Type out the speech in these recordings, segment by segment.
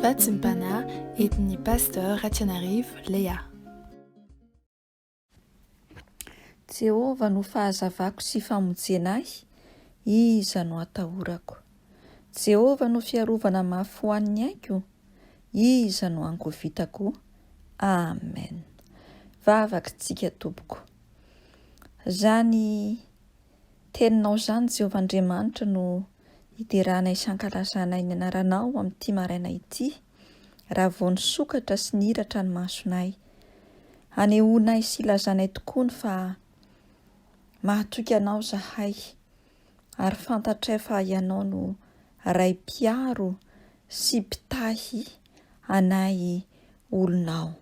Fahatsimpana entin'ny Pasteur Ratsianarivo Léa. Jehovah no fahazavako sy famojena ahy, iza no atahorako? Jehovah no fiarovana mafy ho an'ny aiko, iza no angovitako? Amen! Vavak'tsika tompoko. Zany teninao zany Jehovah Andriamanitra no hiderana hisankalazana ny anaranao amin'ity maraina ity, raha vao nisokatra sy nihiratra ny masonay. Hanehoanay sy hilazanay tokoa ny fa mahatoky Anao izahay, ary fantatray fa Ianao no Ray Mpiaro sy Mpitahy anay olonao.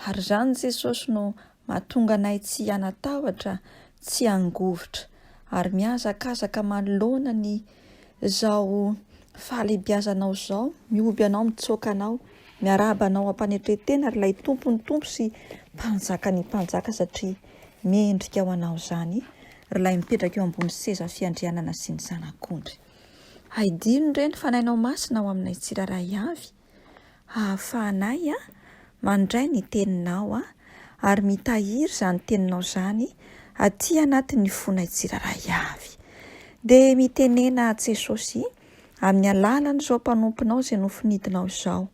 Ary izany Jesosy no mahatonga anay tsy hanatahotra, tsy hangovitra, ary mihazakazaka manoloana ny izao fahalebiazanao izao, mihoby anao, mitsoaka anao, miarahaba anao am-panetren-tena ry ilay Tompon'ny Tompo sy Mpanjakan'ny Mpanjaka satria mendrika ho anao izany ry ilay mipetraka eo ambony seza fiandrianana sy ny Zanak'ondry. Hay dino re ny Fanahinao Masina ao aminay tsirairay avy. hahafahanay mandray ny Teninao ary mitahiry izany Teninao izany aty anatin'ny fonay tsirairay avy. Dia mitenena aho, Jesosy, amin'ny alalan'izao mpanomponao izay nofinidinao izao,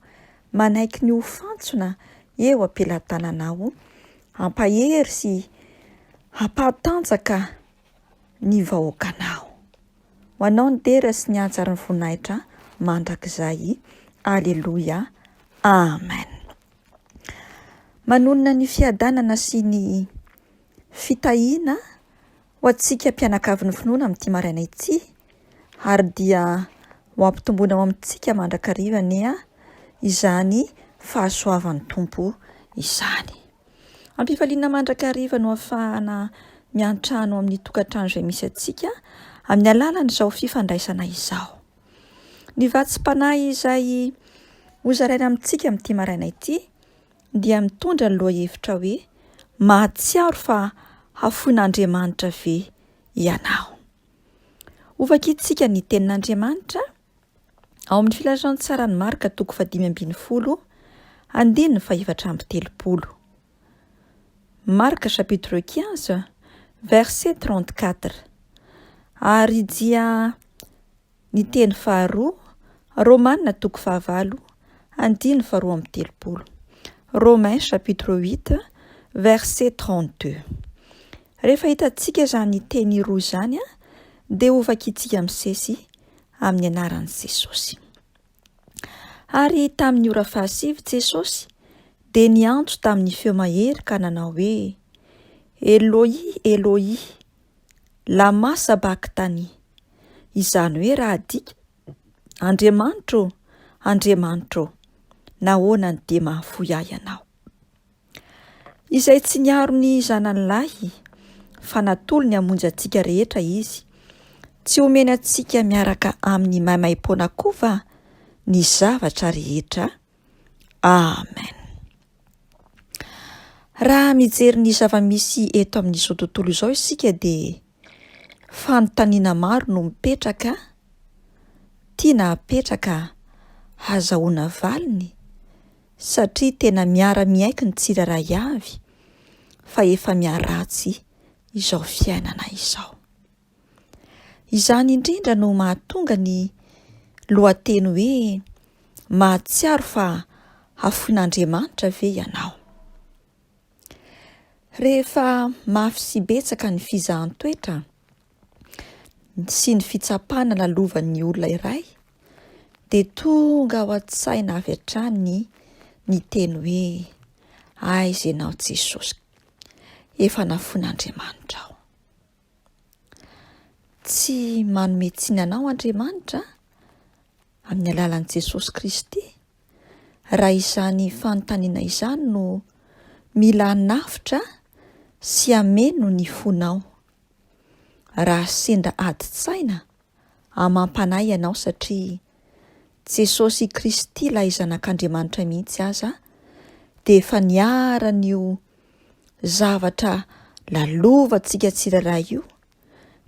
manaiky ny ho fantsona eo am-pelatananao, hampahery sy hampahatanjaka, ny vahoakanao. Ho anao ny dera sy ny anja ary ny voninahitra mandrakizay. Aleloia. Amen. Manonona ny fiadanana sy ny fitahiana ho antsika mpianakavin'ny finoana amin'ity maraina ity ary dia ho ampitomboina ao amintsika mandrakariva anie izany fahasoavan'ny Tompo izany. Am-pifaliana mandrakariva no ahafahana miantrano amin'ny tokantrano izay misy antsika amin'ny alalan'izao fifandraisana izao. Ny vatsim-panahy izay hozaraina amintsika amin'ity maraina ity dia mitondra ny lohahevitra hoe mahatsiaro fa hafoin'Andriamanitra ve ianao. Ho vakintsika ny tenin'Andriamanitra. Ao amin'ny Filazantsaran'i Marka, toko fahadimy ambin'ny folo, andininy fahefatra amby telopolo. Marka chapitre quinze, verset trente-quatre. Ary dia ny teny faharoa, Romana toko fahavalo, andininy faharoa amby telopolo. Romains chapitre huit, verset trente-deux. Rehefa hitantsika izany teny roa izany, dia hovakitsika misesy amin'ny anaran'i Jesosy. Ary tamin'ny ora fahasivy Jesosy dia niantso tamin'ny feo mahery ka nanao hoe, Eloi, Eloi, lama sabachthani, izany hoe raha adika, Andriamanitro, Andriamanitro, nahoana no dia mahafoy ahy ianao? Izay tsy niaro ny zanany lahy, fa natolony hamonjy antsika rehetra Izy, tsy homeny antsika miaraka amin'ny maimaim-poana koa va ny zavatra rehetra? Amen. Raha mijery ny zava-misy eto amin'izao tontolo izao isika dia Fanontaniana maro no mipetraka, tiana hapetraka hazahoana valiny satria tena miara-miaiky ny tsirairay avy fa efa miharatsy izao fiainana izao. Izany indrindra no mahatonga ny lohateny hoe Mahatsiaro fa hafoin'Andriamanitra ve ianao? Rehefa mafy sy betsaka ny fizahan-toetra sy ny fitsapana lalovan'ny olona iray dia tonga ao an-tsaina avy hatrany ny teny hoe aiza ianao Jesosy efa nafoin'Andriamanitra aho. Tsy manome tsiny anao Andriamanitra amin'ny alalan'i Jesosy Kristy. raha izany fanontaniana izany no mila hanavotra sy hameno ny fonao. Raha sendra adin-tsaina, amam-panahy ianao satria Jesosy Kristy ilay Zanak'Andriamanitra mihitsy aza dia efa niharan'io zavatra lalovantsika tsirairay io,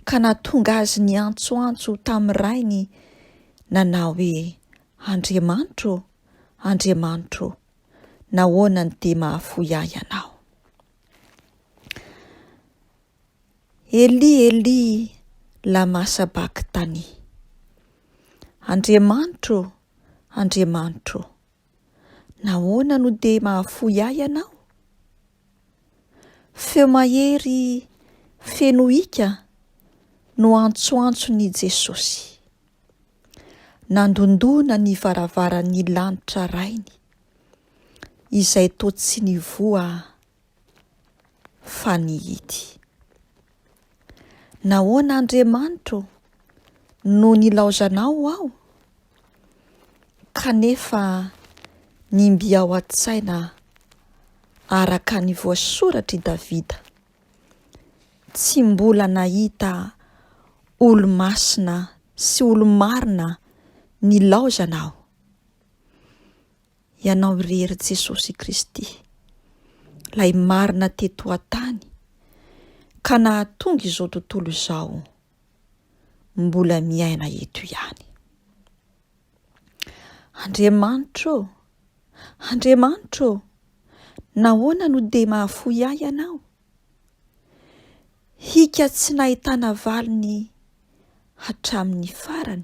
ka nahatonga azy niantsoantso tamin'ny rainy nanao hoe, Andriamanitro ô, Andriamanitro ô, nahoana no dia mahafoy ahy ianao? Eli, Eli, lama sabakitany. Andriamanitro ô, Andriamanitro ô, nahoana no dia mahafoy ahy ianao? Feo mahery feno hika no antsoantson'i Jesosy. Nandondona ny varavaran'ny lanitra Rainy, izay toa tsy nivoha fa nihidy. Nahoana Andriamanitro no nilaozanao aho? Kanefa ny mby ao an-tsaina araka ny voasoratr'i Davida, Tsy mbola nahita olo-masina sy olo-marina nilaozana aho. Ianao irery Jesosy Kristy, Lay marina teto an-tany ka nahatonga izao tontolo izao mbola miaina eto ihany. Andriamanitra ô! Andriamanitra ô! Nahoana no dia mahafoy ahy Ianao? Hika tsy nahitana valiny hatramin'ny farany.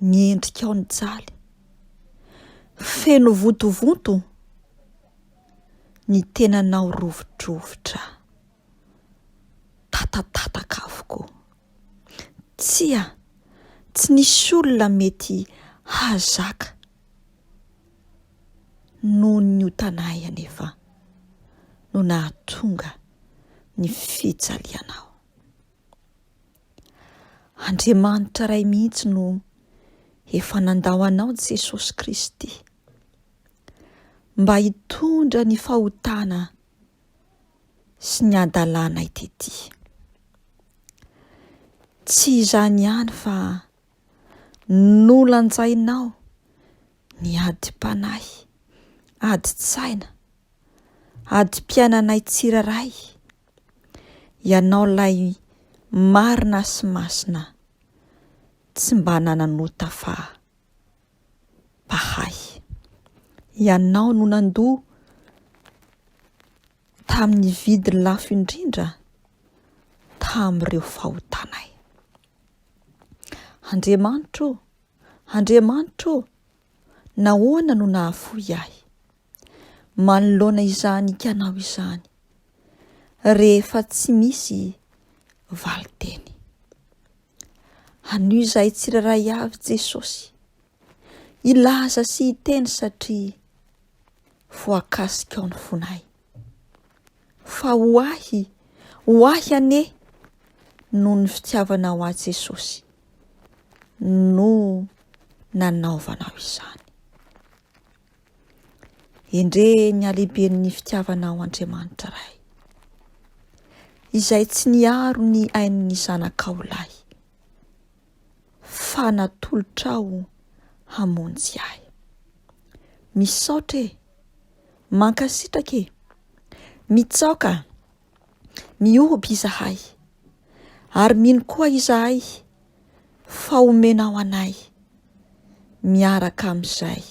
ny endrikao nijaly. Feno vontovonto ny tenanao rovidrovitra. Tatatataka avokoa. Tsia, tsy nisy olona mety hahazaka noho ny otanay anefa no nahatonga ny fijalianao. Andriamanitra Ray mihitsy no efa nandao anao Jesosy Kristy mba hitondra ny fahotana sy ny hadalanay tety. Tsy izany ihany fa nolanjainao ny adim-panahy, adim-tsaina, adim-piainanay tsiraray, Ianao lay marina sy masina tsy mba nanan'ota fa Bahay. Ianao no nandoa tamin'ny vidy lafo indrindra tamin'ireo fahotanay. Andriamanitro, Andriamanitro, nahoana no nahafoy ahy? manoloana izany ikanao izany rehefa tsy misy valin-teny. Anio izahay tsirairay avy Jesosy hilaza sy hiteny satria voakasikao ny fonay. Fa ho ahy, ho ahy ane noho ny fitiavanao ahy Jesosy no nanaovanao izany. Endrey ny halehiben'ny fitiavanao Andriamanitra Ray, izay tsy niaro ny ain'ny zanakao lahy, fa natolotrao hamonjy ahy. Misaotra e, mankasitraka e, mitsaoka. Mihoby izahay, ary mino koa izahay fa homenao anay miaraka amin'izay.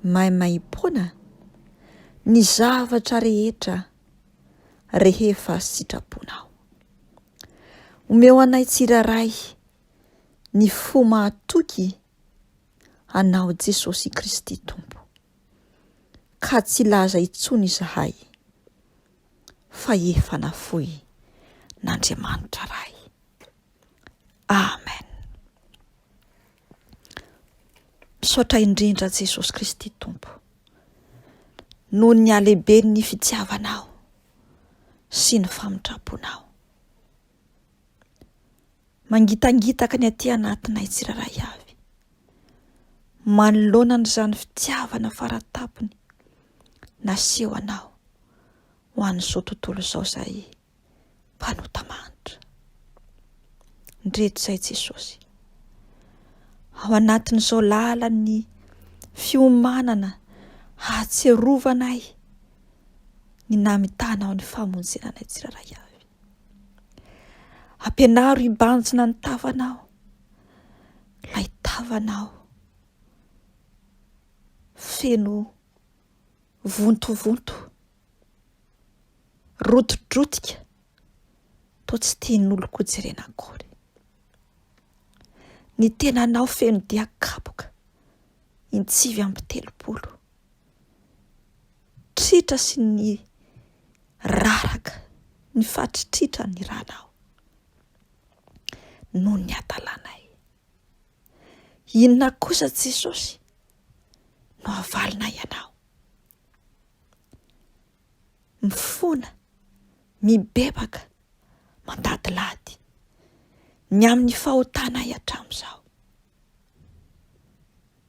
Maimaimpoana ny zavatra rehetra rehefa sitraponao. Omeo anay tsirairay ny fo mahatoky anao Jesosy Kristy Tompo. ka tsy hilaza intsony izahay fa efa nafoin' Andriamanitra Ray. Amen. Misaotra indrindra Jesosy Kristy Tompo noho ny halehiben'ny fitiavanao sy ny famindramponao. Mangitangitaka ny aty anatinay tsirairay avy, manoloana an'izany fitiavana faran-tampony naseho anao ho an'izao tontolo izao izahay mpanota manitra. Ndreto izay Jesosy. Ao anatin'izao lalan'ny fiomanana hahatsiarovana ahy ny namitana ao ny famonjena anay tsirairay avy. Ampianaro hibanjina ny tavanao, ilay tavanao feno vontovonto, rotidrotika, toa tsy tian'oloko jerena akory. Ny tenanao feno dia kapoka. ny sivy amby telopolo. Tritra sy ny raraka, ny faritritra ny ranao noho ny hadalanay. Inona kosa Jesosy no havalinay anao? mifona, mibebaka, mandadilady, ny amin'ny fahotanay hatramin'izao.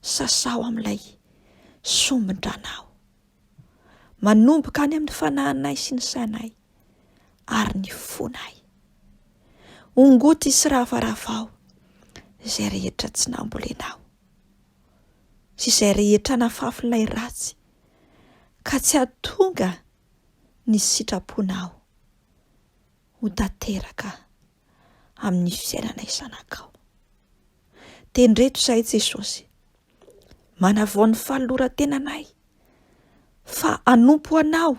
Sasaho amin'ilay sombin-dràna aho, manomboka any amin'ny fanahinay sy ny sainay ary ny fonay. Ongoty sy ravaravao izay rehetra tsy nambolenao sy izay rehetra nafafin'ilay ratsy ka tsy hahatonga ny sitraponao ho tanteraka amin'ny fiainana izanakao. Tendreto izahay Jesosy, manavao ny fanoloran-tenanay fa hanompo anao,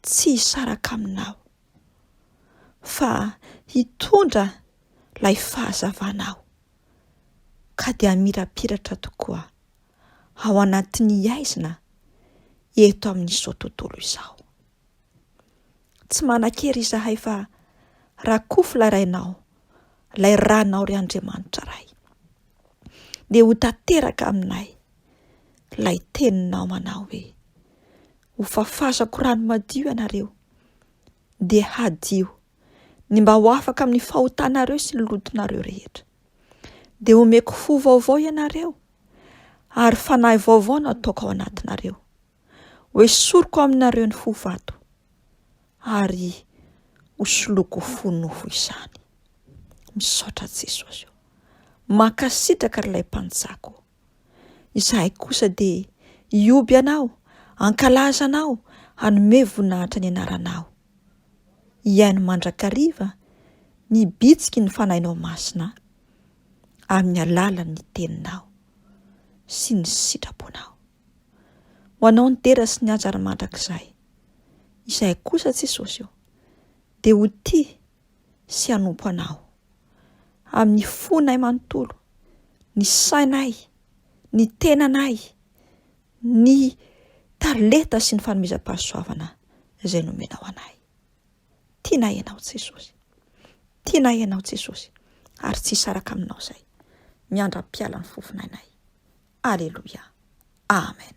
tsy hisaraka aminao, fa hitondra ilay fahazavanao ka dia hamirapiratra tokoa ao anatin'ny haizina eto amin'izao tontolo izao. Tsy manan-kery izahay fa rakofy ilay rainao, ilay ranao ry Andriamanitra Ray. Dia ho tanteraka aminay ilay teninao manao hoe, ho fafazako rano madio ianareo, dia hadio ny mba ho afaka amin'ny fahotanareo sy ny lotonareo rehetra. Dia omeko fo vaovao ianareo, ary fanahy vaovao nataoko ao anatinareo. Hoesoriko aminareo ny fo vato, ary hosoloiko fo nofo izany. Misaotra Jesosy. Mankasitraka ry ilay mpanjako. Izahay kosa dia hioby anao, hankalaza anao, hanome voninahitra ny anaranao. Hihaino mandrakariva ny bitsiky ny fanahinao masina. amin'ny alalan'ny Teninao sy ny sitraponao. Ho anao ny dera sy ny hajar mandrakizay. Izahay kosa, Jesosy o, dia ho tia sy hanompo Anao amin'ny fonay manontolo, ny sainay, ny tenanay, ny talenta sy ny fanomezam-pahasoavana izay nomenao anay. Tiana ianao Jesosy. Tiana ianao Jesosy ary tsy hisaraka aminao izay. Miandra am-pialan'ny fofon'ainay. Aleloia. Amen.